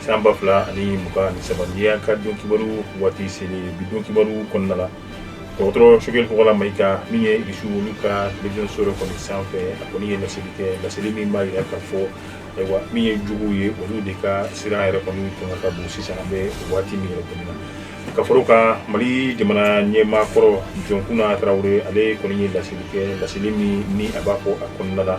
San ba fila ani mugan ni saba ni a ka don kibaru waati selen bi don kibaru kɔnɔna la dɔgɔtɔrɔ sokɛli kokala mayiga min ye irisi olu ka télévision so dɔ kɔni sanfɛ a kɔni ye laseli kɛ laseli min b'a jira ka fɔ ayiwa min ye juguw ye olu de ka siran yɛrɛ kɔni tun ka bon sisan an bɛ waati min yɛrɛ kɔni na ka fara o kan mali jamana ɲɛmaa kɔrɔ jɔnkunda tarawele ale kɔni ye laseli kɛ laseli min ni a b'a fɔ a kɔnɔna la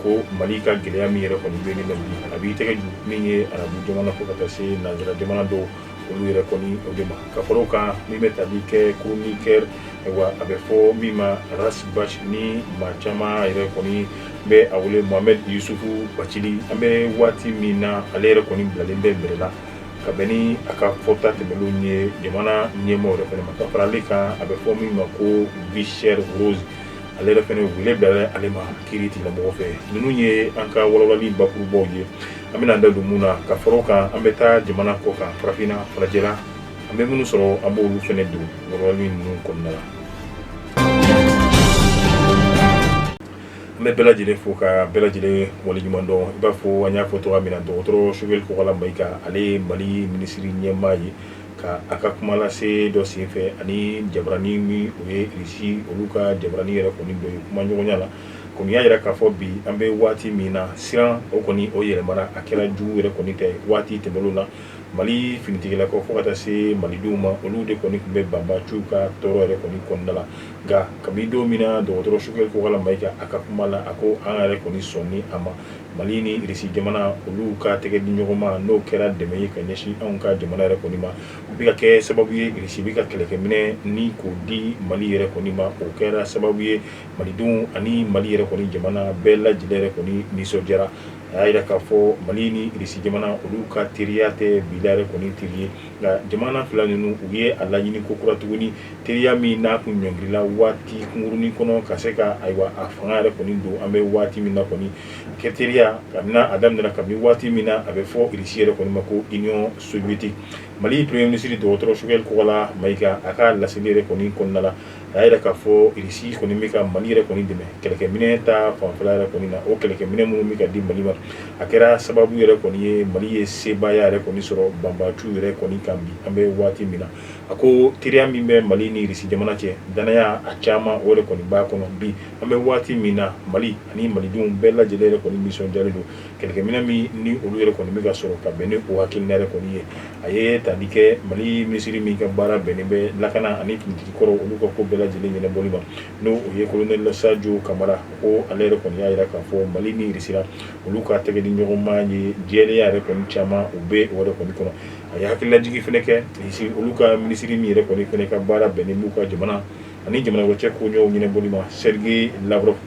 ko mali ka gɛlɛya min yɛrɛ kɔni bɛ la a b'i tɛgɛ ju min ye arabu jamana fo ka taa se nanzara jamana dɔw olu yɛrɛ kɔni o de ma ka fara o kan min bɛ tali kɛ chroniqueur ayiwa a bɛ fɔ min ma arasibasi ni maa caman yɛrɛ kɔni bɛ a wele mohamɛdi yusufu bacili an bɛ waati min na ale yɛrɛ kɔni bilalen bɛ bɛrɛ la ka bɛn ni a ka fɔta tɛmɛnlenw ye jamana ɲɛmaaw yɛrɛ fɛnɛ ma ka fara ale kan a bɛ fɔ min ma ko vie chère Rose ale yɛrɛ fɛnɛ wele bila ale ma kiritigɛlamɔgɔ fɛ ninnu ye an ka walawalali bakurubaw ye an bɛna da don mun na ka fara o kan an bɛ taa jamana kɔ kan farafinna farajɛla an bɛ minnu sɔrɔ an b'olu fɛnɛ don walawalali ninnu kɔnɔna la an bɛ bɛɛ lajɛlen fo ka bɛɛ lajɛlen wale ɲuman dɔn i b'a fɔ an y'a fɔ cogo min na dɔgɔtɔrɔ sokɛli kokala mayiga ale ye mali minisiriri ɲɛmaa ye Ka a ka kuma lase dɔ senfɛ ani jabarani min o ye Irisi olu ka jabarani yɛrɛ kɔni dɔ ye kuma ɲɔgɔnya la, kɔni y'a jira k'a fɔ bi an bɛ waati min na, siran o kɔni o yɛlɛmana, a kɛra jugu yɛrɛ kɔni tɛ waati tɛmɛnenw na, Mali finitigilakaw fo ka taa se Malidenw ma, olu de kɔni tun bɛ banbaanciw ka tɔɔrɔ yɛrɛ kɔni kɔnɔna la, nka kabini don min na dɔgɔtɔrɔ Sokɛli Kokala Mayiga a ka kuma la, a ko an yɛrɛ kɔni sɔnni a ma. Mali ni irisi jamana olu ka tɛgɛ di ɲɔgɔn ma n'o kɛra dɛmɛ ye ka ɲɛsin anw ka jamana yɛrɛ kɔni ma o bɛ ka kɛ sababu ye irisi bɛ ka kɛlɛkɛminɛ ni k'o di mali yɛrɛ kɔni ma o kɛra sababu ye malidenw ani mali yɛrɛ kɔni jamana bɛɛ lajɛlen yɛrɛ kɔni nisɔndiyara a y'a jira k'a fɔ mali ni irisi jamana olu ka teriya tɛ bi la yɛrɛ kɔni teri ye nka jamana fila ninnu u ye a laɲini kokura tuguni teriya min n'a tun ɲɔngirila waati kunkurunnin kɔnɔ ka se ka ayiwa a fanga yɛrɛ kɔni don an bɛ waati min na kɔni kɛ teriya kabini a daminɛna kabini waati min na a bɛ fɔ irisi yɛrɛ kɔni ma ko Union Soviétique mali premier ministre dɔgɔtɔrɔ sokɛli kokala mayiga a ka laseli yɛrɛ kɔni kɔnɔna la a y'a jira k'a fɔ Irisi kɔni bɛ ka Mali yɛrɛ kɔni dɛmɛ kɛlɛkɛminɛn ta fanfɛla yɛrɛ kɔni na, o kɛlɛkɛminɛn minnu bɛ ka di Mali ma, a kɛra sababu yɛrɛ kɔni ye Mali ye sebaaya yɛrɛ kɔni sɔrɔ banbaanciw yɛrɛ kɔni kan bi an bɛ waati min na, a ko teriya min bɛ Mali ni Irisi jamana cɛ, dannaya a caman o de kɔni b'a kɔnɔ bi, an bɛ waati min na Mali ani malidenw bɛɛ lajɛlen yɛrɛ kɔni nisɔndiyalen don kɛlɛkɛminɛ min ni olu yɛrɛ kɔni bɛ ka sɔrɔ ka bɛn ni o hakilina yɛrɛ kɔni ye, a ye tali kɛ Mali minisiri min ka baara bɛnnen bɛ lakana ani finitigi kɔrɔw olu ka ko bɛɛ lajɛlen ɲɛnabɔli ma, n'o o ye Kolonɛli Sajo Kamara, ko ale yɛrɛ kɔni y'a jira k'a fɔ Mali ni Irisi la olu ka tɛgɛdiɲɔgɔnma ye jɛlenya yɛrɛ kɔni caman u bɛ o yɛrɛ kɔni kɔnɔ. A ye hakililajigin fɛnɛ kɛ Irisi olu ka minisiri min yɛrɛ kɔni fɛnɛ ka baara bɛnnen b'u ka jamana ani jamana cɛ koɲɛw ɲɛnabɔli ma, Sergei Lavrov.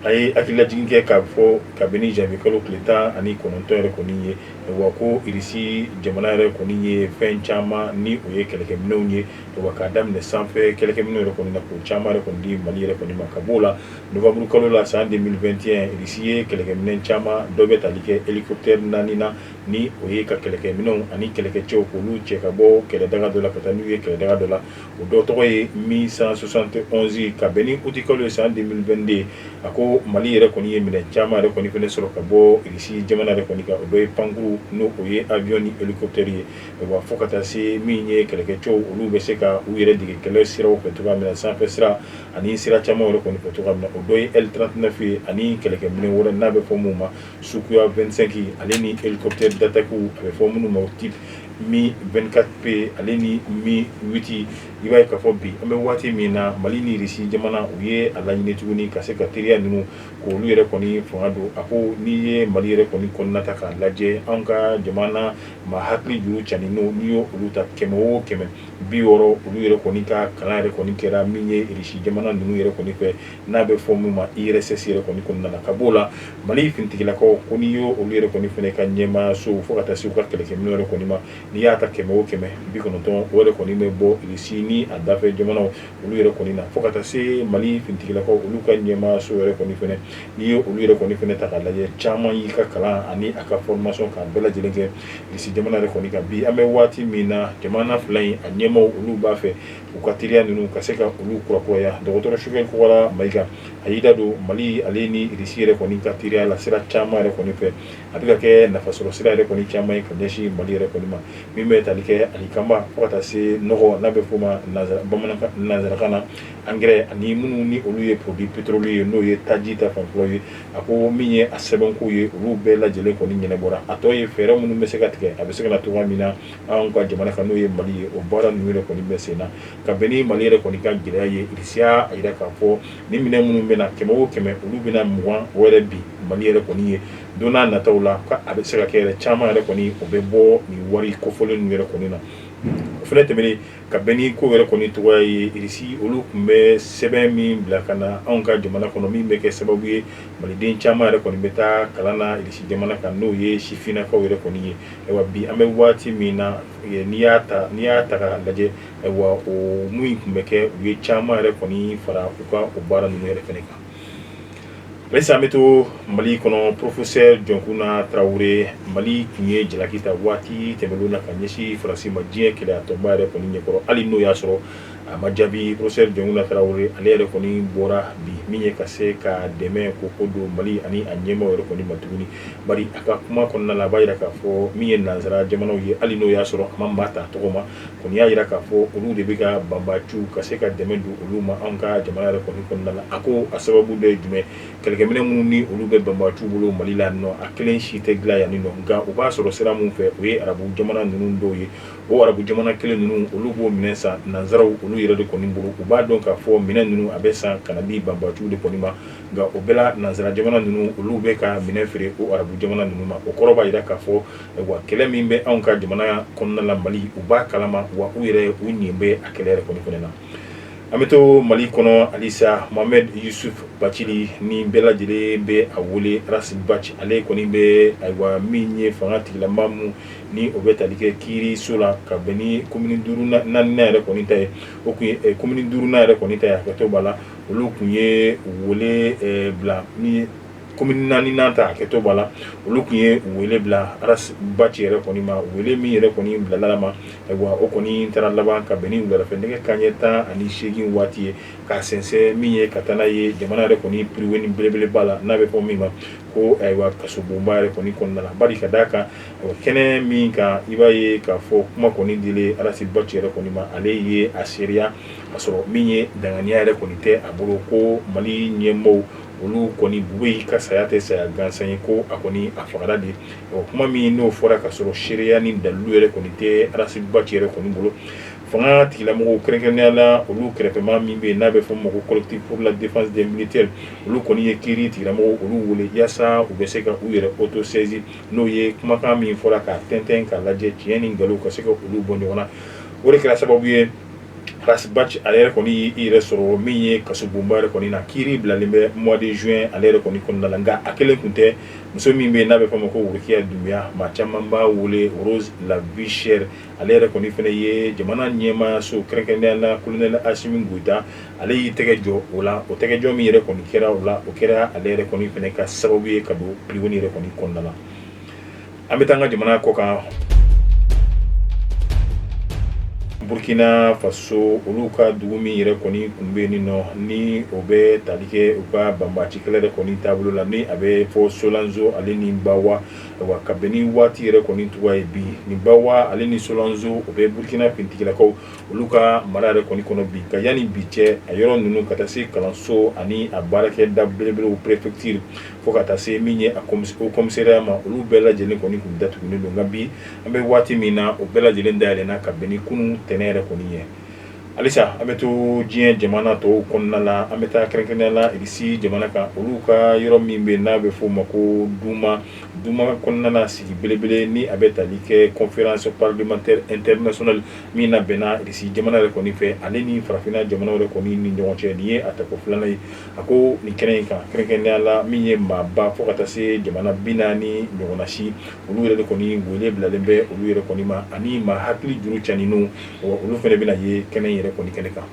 a ye hakililajigin kɛ k'a fɔ kabini janvier kalo tile 19 yɛrɛ kɔni ye, wa ko Irisi jamana yɛrɛ kɔni ye fɛn caman ni o ye kɛlɛkɛminɛnw ye, wa k'a daminɛ sanfɛ kɛlɛkɛminɛnw yɛrɛ kɔni na, k'o caman yɛrɛ kɔni di Mali yɛrɛ kɔni ma, ka b'o la novembre kalo la san 2021, Irisi ye kɛlɛkɛminɛn caman dɔ bɛ tali kɛ hélicoptère 4 na, ni o ye ka kɛlɛkɛminɛnw ani kɛlɛkɛcɛw k'olu cɛ ka bɔ kɛlɛdaga dɔ la ka taa n'u ye kɛlɛdaga dɔ la. o dɔ tɔgɔ ye Mi 171 ka bɛn ni utikalo ye san 2022 a ko mali yɛrɛ kɔni ye minɛ caman yɛrɛ kɔni fɛnɛ sɔrɔ ka bɔ Irisi jamana yɛrɛ kɔni kan o dɔ ye pankurun n'o ye avion ni hélicoptère ye wa fo ka taa se min ye kɛlɛkɛcɛw olu bɛ se ka u yɛrɛ dege kɛlɛ siraw fɛ cogoya min na sanfɛ sira ani sira caman yɛrɛ kɔni fɛ cogoya min na o dɔ ye L39 ye ani kɛlɛkɛminɛ wɛrɛ n'a bɛ fɔ min ma Sukhoi 25 ale ni hélicoptère d'attaque a bɛ fɔ minnu ma type Mi 24P ale ni Mi 8 i b'a ye k'a fɔ bi an bɛ waati min na mali ni Irisi jamana u ye a laɲini tuguni ka se ka teriya ninnu k'olu yɛrɛ kɔni fanga don a ko n'i ye mali yɛrɛ kɔni kɔnɔna ta k'a lajɛ an ka jamana ma hakili juru caaninw n'i ye olu ta kɛmɛ o kɛmɛ bi wɔɔrɔ olu yɛrɛ kɔni ka kalan yɛrɛ kɔni kɛra min ye Irisi jamana ninnu yɛrɛ kɔni fɛ n'a bɛ fɔ min ma URSS yɛrɛ kɔni kɔnɔna na ka b'o la Mali finitigilakaw ko n'i y'o olu yɛrɛ kɔni fɛnɛ ka ɲɛmaayaso fo ka taa se u ka kɛlɛkɛminɛnw yɛrɛ kɔni ma n'i y'a ta kɛmɛ o kɛmɛ bi kɔnɔntɔn o yɛrɛ kɔni bɛ bɔ Irisi ni a dafɛ jamanaw olu yɛrɛ kɔni na fo ka taa se Mali finitigilakaw olu ka ɲɛmaayaso yɛrɛ kɔni fɛnɛ n'i ye olu yɛrɛ kɔni fɛnɛ ta k'a lajɛ caman y'i ka kalan ani a ka formation k'a bɛɛ lajɛlen kɛ Irisi jamana yɛrɛ kɔni kan bi an bɛ waati min na jamana fila in a ɲɛmaaw olu b'a fɛ u ka teriya ninnu ka se ka olu kurakuraya dɔgɔtɔrɔ Choguel Kokalla Maïga a y'i da don Mali ale ni Irisi yɛrɛ kɔni ka teriya la sira caman yɛrɛ kɔni fɛ, a bɛ ka kɛ nafasɔrɔ sira yɛrɛ kɔni caman ye ka ɲɛsin Mali yɛrɛ kɔni ma min bɛ tali kɛ alikama fo ka taa se nɔgɔ n'a bɛ f'o ma nanzarakan na engrais ani minnu ni olu ye produits petroliers ye n'o ye taji ta fanfɛlaw ye, a ko min ye a sɛbɛnkow ye olu bɛɛ lajɛlen kɔni ɲɛnɛbɔra a tɔ ye fɛɛrɛ minnu bɛ se ka tigɛ a bɛ se ka na cogoya min na anw ka jamana kan n'o ye mali ye o baara ninnu yɛrɛ kɔni bɛ sen na ka bɛn ni mali yɛrɛ kɔni ka gɛlɛya ye irisi y'a jira k'a fɔ ni minɛn minnu bɛ na kɛmɛ o kɛmɛ olu bɛna mugan o yɛrɛ bin mali yɛrɛ kɔni ye don n'a nataw la a bɛ se ka kɛ yɛrɛ caman yɛrɛ kɔni o bɛ bɔ nin wari kofɔlen ninnu yɛrɛ kɔni na o fɛnɛ tɛmɛnen ka bɛn ni ko yɛrɛ kɔni tɔgɔya ye irisi olu tun bɛ sɛbɛn min bila ka na anw ka jamana kɔnɔ min bɛ kɛ sababu ye maliden caman yɛrɛ kɔni bɛ taa kalan na irisi jamana kan n'o ye sifinnakaw yɛrɛ kɔni ye ayiwa bi an bɛ waati min na n'i y'a ta k'a lajɛ ayiwa o mun in tun bɛ kɛ u ye caman yɛrɛ kɔni fara u ka o baara ninnu yɛrɛ fɛnɛ kan halisa an bɛ to Mali kɔnɔ professeur Jɔnkuna Tarawele Mali tun ye jalaki ta waati tɛmɛnenw na ka ɲɛsin Faransi ma diɲɛ kelenyatɔnba yɛrɛ kɔni ɲɛkɔrɔ hali n'o y'a sɔrɔ a ma jaabi professeur Jɔnkuna Tarawele ale yɛrɛ kɔni bɔra bi min ye ka se ka dɛmɛ ko ko don Mali ani a ɲɛmaaw yɛrɛ kɔni ma tuguni a ka kuma kɔnɔna la a b'a jira k'a fɔ min ye nansara jamanaw ye hali n'o y'a sɔrɔ a ma maa ta tɔgɔ ma kɔni y'a jira k'a fɔ olu de bɛ ka banbaaciw ka se ka dɛmɛ don olu ma an ka jamana yɛrɛ kɔni kɔnɔna la a ko a sababu dɔ ye jumɛn kɛlɛkɛminɛ minnu ni olu bɛ banbaaciw bolo mali la nɔ a kelen si tɛ dilan yan nɔ nka u b'a sɔrɔ sira mun fɛ o ye arabu jamana ninnu dɔw ye o arabu jamana kelen ninnu olu b'o minɛn san nansaraw olu yɛrɛ de kɔni bolo u b'a dɔn k'a fɔ minɛn ninnu a bɛ san ka na di banbaaciw de kɔni ma nka o bɛɛ la nansara jamana ninnu olu bɛ ka minɛn feere o arabu jamana ninnu ma o kɔrɔ b'a jira k'a fɔ wa kɛlɛ min bɛ anw ka jamana kɔnɔnala mali u b'a kalama wa u yɛrɛ u ɲɛ bɛ a kɛlɛ yɛrɛ kɔni fɛnɛ na an bɛ to mali kɔnɔ halisa mohamɛd yusuf bacili ni bɛɛ lajɛlen bɛ a wele arasi baci ale kɔni bɛ ayiwa min ye fanga tigilamaa mun ni o bɛ tali kɛ kiiriso la ka bɛn ni komini duurunan yɛrɛ kɔni ta ye o tun ye komini duurunan yɛrɛ kɔni ta ye hakɛto b'a la olu kun ye wele bila ni komini naaninan ta hakɛto b'a la olu kun ye wele bila arasi baci yɛrɛ kɔni ma wele min yɛrɛ kɔni bilala ma ayiwa o kɔni taara laban ka bɛn ni wuladafɛ nɛgɛ kanɲɛ tan ani seegin waati ye k'a sɛnsɛn min ye ka taa n'a ye jamana yɛrɛ kɔni piriweni belebeleba la n'a bɛ fɔ min ma ko ayiwa kasobonba yɛrɛ kɔni kɔnɔna la bari ka d'a kan kɛnɛ min kan i b'a ye k'a fɔ kuma kɔni dilen arasi baci yɛrɛ kɔni ma ale ye a seereya Ka sɔrɔ min ye danganiya yɛrɛ kɔni tɛ a bolo ko Mali ɲɛmaaw olu kɔni Bubeyi ka saya tɛ saya gansan ye ko a kɔni a fagara de kuma min n'o fɔra ka sɔrɔ seereya ni dalilu yɛrɛ kɔni tɛ arasi baci yɛrɛ kɔni bolo fanga tigilamɔgɔw kɛrɛnkɛrɛnnenya la olu kɛrɛfɛmaa min bɛ yen n'a bɛ fɔ o ma ko collectif pour la défense des militaires olu kɔni ye kiiri tigilamɔgɔw olu wele yaasa u bɛ se ka u yɛrɛ autosaisir n'o ye kumakan min fɔra k'a tɛntɛn k'a lajɛ tiɲɛ ni nkalon ka se ka olu bɔ ɲɔgɔn na o de kɛra sababu ye Ras Bath ale yɛrɛ kɔni y'i yɛrɛ sɔrɔ min ye kasobonba yɛrɛ kɔni na kiiri bilalen bɛ mois de juin ale yɛrɛ kɔni kɔnɔna la nka a kelen tun tɛ muso min bɛ n'a bɛ fɔ a ma ko Worokiya Dunbiya maa caman b'a wele Rose la vie chère ale yɛrɛ kɔni fana ye jamana ɲɛmaa so kɛrɛnkɛrɛnnenya la colonel Asimi Goyita ale y'i tɛgɛ jɔ o la o tɛgɛjɔ min yɛrɛ kɔni kɛra o la o kɛra ale yɛrɛ kɔni fana ka sababu ye ka don prison yɛrɛ kɔni kɔnɔna la An bɛ taa an ka jamana kɔ kan Burkina faso olu ka dugu min yɛrɛ kɔni tun bɛ yen nɔ ni o bɛ tali kɛ u ka banbaci kɛlɛ yɛrɛ kɔni taabolo la ni a bɛ fɔ Solanzo ale ni Bawa ayiwa ka bɛn ni waati yɛrɛ kɔni cogoya ye bi ni Bawa ale ni Solanzo o bɛ Burkina finitigilakaw olu ka mara yɛrɛ kɔni kɔnɔ bi ka yani bi cɛ a yɔrɔ ninnu ka taa se kalanso ani a baarakɛda belebelew préfecture fo ka taa se min ye a commissariat ma olu bɛɛ lajɛlen kɔni tun datugulen don nka bi an bɛ waati min na o bɛɛ lajɛlen dayɛlɛnna ka bɛn ni kunun tɛnɛn yɛrɛ kɔni ye halisa an bɛ to diɲɛ jamana tɔw kɔnɔna na an bɛ taa kɛrɛnkɛrɛnnenya la Irisi jamana kan olu ka yɔrɔ min bɛ n'a bɛ f'o ma ko Duma Duma kɔnɔna sigi belebele ni a bɛ tali kɛ conférence parlementaire internationale min na bɛnna Irisi jamana yɛrɛ kɔni fɛ ale ni farafinna jamana yɛrɛ kɔni ni ɲɔgɔn cɛ nin ye a tako filanan ye A ko nin kɛnɛ in kan kɛrɛnkɛrɛnnenya la min ye maaba fo ka taa se jamana 40 ɲɔgɔnna si, olu yɛrɛ de kɔni wele bilalen bɛ olu yɛrɛ kɔni ma ani maa hakili juru caninw, ɔ olu fana bɛna ye kɛnɛ in yɛrɛ kɔni kɛnɛ kan.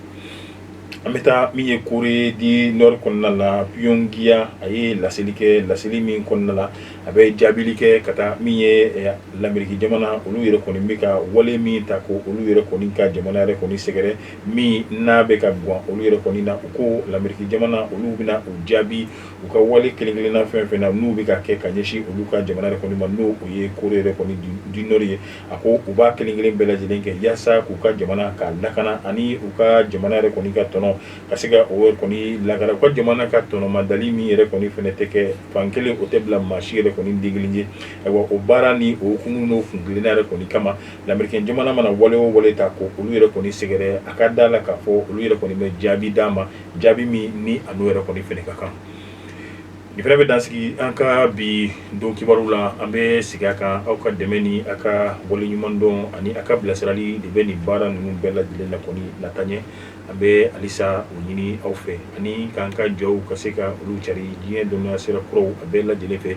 An bɛ taa min ye Corée du Nord kɔnɔna la, Pyongyang a ye laseli kɛ, laseli min kɔnɔna la, a bɛ jaabili kɛ ka taa min ye Lameriki jamana olu yɛrɛ kɔni bɛ ka wale min ta ko olu yɛrɛ kɔni ka jamana yɛrɛ kɔni sɛgɛrɛ. min n'a bɛ ka gan olu yɛrɛ kɔni na u ko Lameriki jamana olu bɛna u jaabi u ka wale kelen-kelenna fɛn fɛn na n'u bɛ ka kɛ ka ɲɛsin olu ka jamana yɛrɛ kɔni ma n'o ye Corée yɛrɛ kɔni du Nord ye a ko u b'a kelenkelen bɛɛ lajɛlen kɛ yaasa k'u ka jamana ka lakana ani u ka jamana yɛrɛ kɔni ka tɔnɔ ka se ka o kɔni lakana u ka jamana ka tɔnɔmadali min yɛrɛ kɔni fana tɛ kɛ fan kelen o tɛ bila maa si yɛrɛ kɔni denkelen ye ayiwa o baara ni o kun n'o kuntilenna yɛrɛ kɔni kama Lamerike jamana mana wale o wale ta ko olu yɛrɛ kɔni sɛgɛrɛ a ka da la k'a fɔ olu yɛrɛ kɔni bɛ jaabi d'a ma jaabi min ni a yɛrɛ kɔni fana ka kan nin fana bɛ dan sigi an ka bi don kibaru la an bɛ sigi a kan aw ka dɛmɛ ni a ka waleɲumandɔn ani a ka bilasirali de bɛ nin baara ninnu bɛɛ lajɛlen la kɔni lataa ɲɛ an bɛ halisa o ɲini aw fɛ ani k'an ka jɔw ka se ka olu cari diɲɛ dɔnniya sira kuraw a bɛɛ lajɛlen fɛ